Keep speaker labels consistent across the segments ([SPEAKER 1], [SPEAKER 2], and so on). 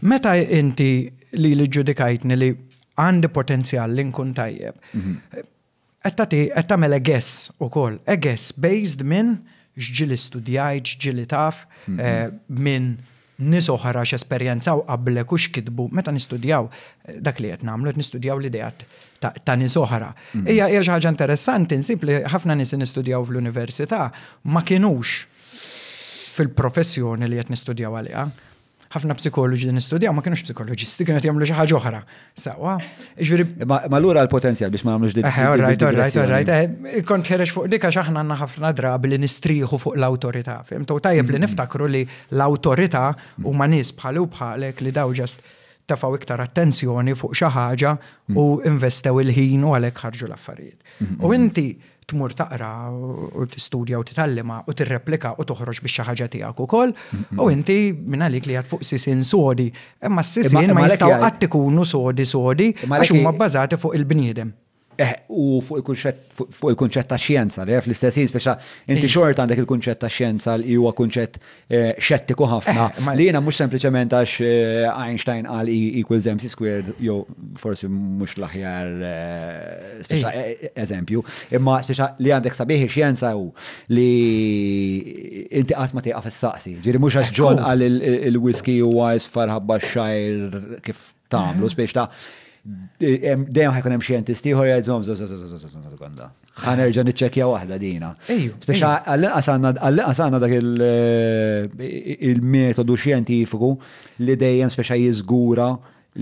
[SPEAKER 1] Meta inti lili ġġudikajtni li għandi potenzjal li nkun tajjeb, qed tagħti qed tagħmel a guess ukoll, a guess based minn x'ġieli studjajt, x'ġieli taf, minn nies oħra x'esperjenzaw qablek u x'kitbu. Meta nistudjaw dak li qed nagħmlu qed nistudjaw l-ideat ta' nies oħra. Hija hija xi ħaġa interessanti nsib li ħafna nies li nistudjaw fl-università ma kinux fil-professjoni li qed nistudjaw għaliha. ħafna psikoloġi li nistudjaw ma kienux psikoloġisti, kienu jagħmlu xi ħaġa oħra. Sawa. Ġifieri. Ma lura l-potenzjal
[SPEAKER 2] biex ma nagħmlux dik. Eh, alright, alright, alright. Eh,
[SPEAKER 1] kont ħerex fuq dik għax aħna għandna ħafna drabi li nistrieħu fuq l-awtorità. Fimtu tajjeb li mm-hmm. niftakru li l-awtorità huma nies bħalu bħalek li daw ġast tafaw iktar attenzjoni fuq xi ħaġa mm. u investew il-ħin u għalhekk ħarġu l-affarijiet. Mm-hmm. U inti tmur taqra u tistudja u titgħallima u tirreplika u toħroġ biex xi ħaġa tiegħek ukoll. U inti minn għalik li għad fuq sisin sodi, imma s-sisin ma jistgħu qatt ikunu sodi sodi għax huma bbażati fuq il-bniedem. Eh, u
[SPEAKER 2] fuq il-kunċett ta' xjenza, li fl-istess jien speċa inti xort għandek il-kunċett ta' xjenza li huwa kunċett Eh, xettiku ħafna. Eh, li jena mux sempliciment għax eh, Einstein għal E equals MC squared, jo forsi mux laħjar eżempju, imma speċa li għandek sabiħi xienza u li inti għat ma tiqaf s-saqsi. Ġiri mux għax ġon għal il-whisky u għajs farħabba xajr kif tagħmlu spiex ta' dejjem ħajkun hemm xjentist ieħor jgħidhom sekonda. Ħanerġa' niċċekkja waħda dina. Spiex għall-inqas għandna dak il-metodu xjentifiku li dejjem speċa jiżgura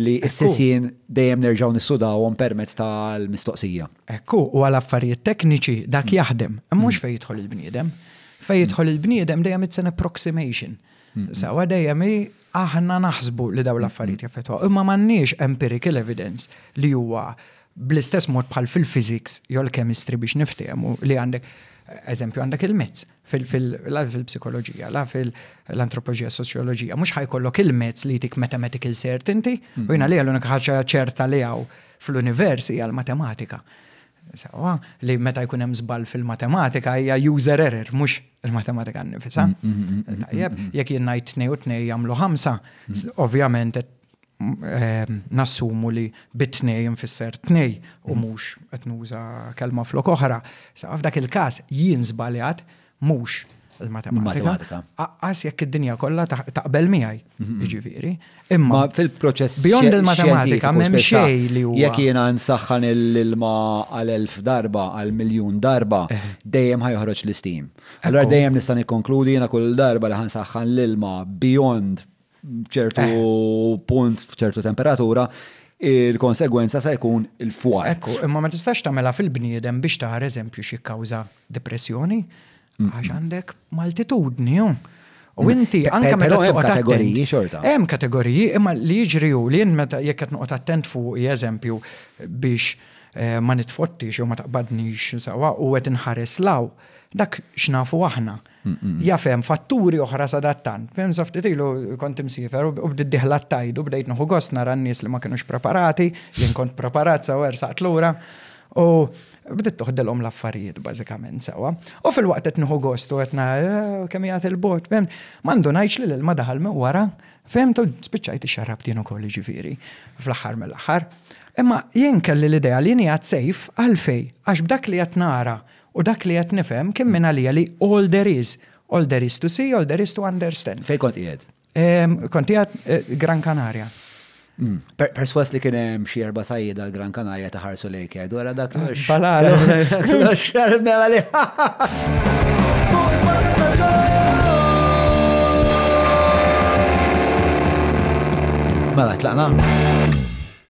[SPEAKER 2] li s-sessin dejjem nerġaw nissudawhom permezz tal-mistoqsija. Ekku, u għal
[SPEAKER 1] affarijiet tekniċi dak mm. jaħdem, mhux mm. fejn jidħol il-bniedem. Fejn jidħol il-bniedem dejjem it's an approximation. Mm. Sawa dejjem Aħna naħsbu li dawn l-affarijiet jaffettwaw, imma m'għandniex empirical evidence li huwa bl-istess mod bħal fil-physics jew l-chemistry biex niftehmu li għandek eżempju għandek il-mezz fil-psikoloġija, la fil-antropoloġija, soċjoloġija, mhux ħajkollok il-mezz li jtik mathematical certainty, u jina li għal-unika ħaġa ċerta li għaw fl-univers hija l-matematika. Sewwa, li meta jkun hemm żball fil-matematika hija user error, mhux il-matematika nnifisha. Mm, mm, mm, Tajjeb, jekk jien ngħid tnej u tnej jagħmlu ħamsa, ovvjament eh, nassumu li bit-tnej nfisser tnej u mhux qed nuża kelma flok oħra. Sa f'dak il-każ jien żbaljat mhux il-matematika. Aqqas jekk id-dinja kollha taqbel miegħi, mhm. jiġifieri. Imma fil-proċess beyond
[SPEAKER 2] il-matematika
[SPEAKER 1] m'hemm xejn li huwa. Jekk jiena nsaħħan
[SPEAKER 2] l-ilma għal elf darba, għal miljun darba, eh. dejjem ħajħroġ l-istim. Allora dejjem nista' nikkonkludi jiena kull darba li ħansaħħan l-ilma beyond b'ċertu punt, b'ċertu temperatura, il-konsegwenza se jkun il-fwar. Ekku, imma ma tistax
[SPEAKER 1] tagħmela fil-bniedem biex taħar eżempju xi kawża depressjoni għax għandek maltitudni. U mm. inti anke meta hemm kategoriji
[SPEAKER 2] xorta. Hemm kategoriji
[SPEAKER 1] imma li jiġri hu li meta jekk qed noqgħod attent fuq eżempju biex eh, ma nitfottix jew ma taqbadnix sewwa u qed inħares law dak x'nafu aħna. Jaf hemm fatturi oħra sadattant. Fim sa ftit ilu kont imsiefer u bdiet diħla t-tajd u bdejt nieħu gost nara n-nies li ma kinux preparati, jien kont preparat sew ersaqt lura u bdiet toħdilhom l-affarijiet bażikament sewwa. U filwaqt qed nieħu gost u qed nara kemm jagħti l-bogħod, fimt, ma ndunajtx li l-ilma daħal minn wara, fimt, u spiċċajt ixxarrabt jien ukoll jiġifieri fl-aħħar mill-aħħar. Imma jien kelli l-idea li jien qiegħed safe, għalfejn? Għax b'dak li qed nara U dak li qed nifhem kien minn għalija li all there is, all there is to see, all there is to understand. Fejn kont qiegħed?
[SPEAKER 2] Ehm, kont qiegħed
[SPEAKER 1] eh, Gran Canaria. Mm.
[SPEAKER 2] Perswas li kien hemm xi erba' sajjida l-Gran Canaria ta' ħarsu lejk għedu għara dak l Balalu.
[SPEAKER 1] Klox, mela li.
[SPEAKER 2] Mela, tlaqna?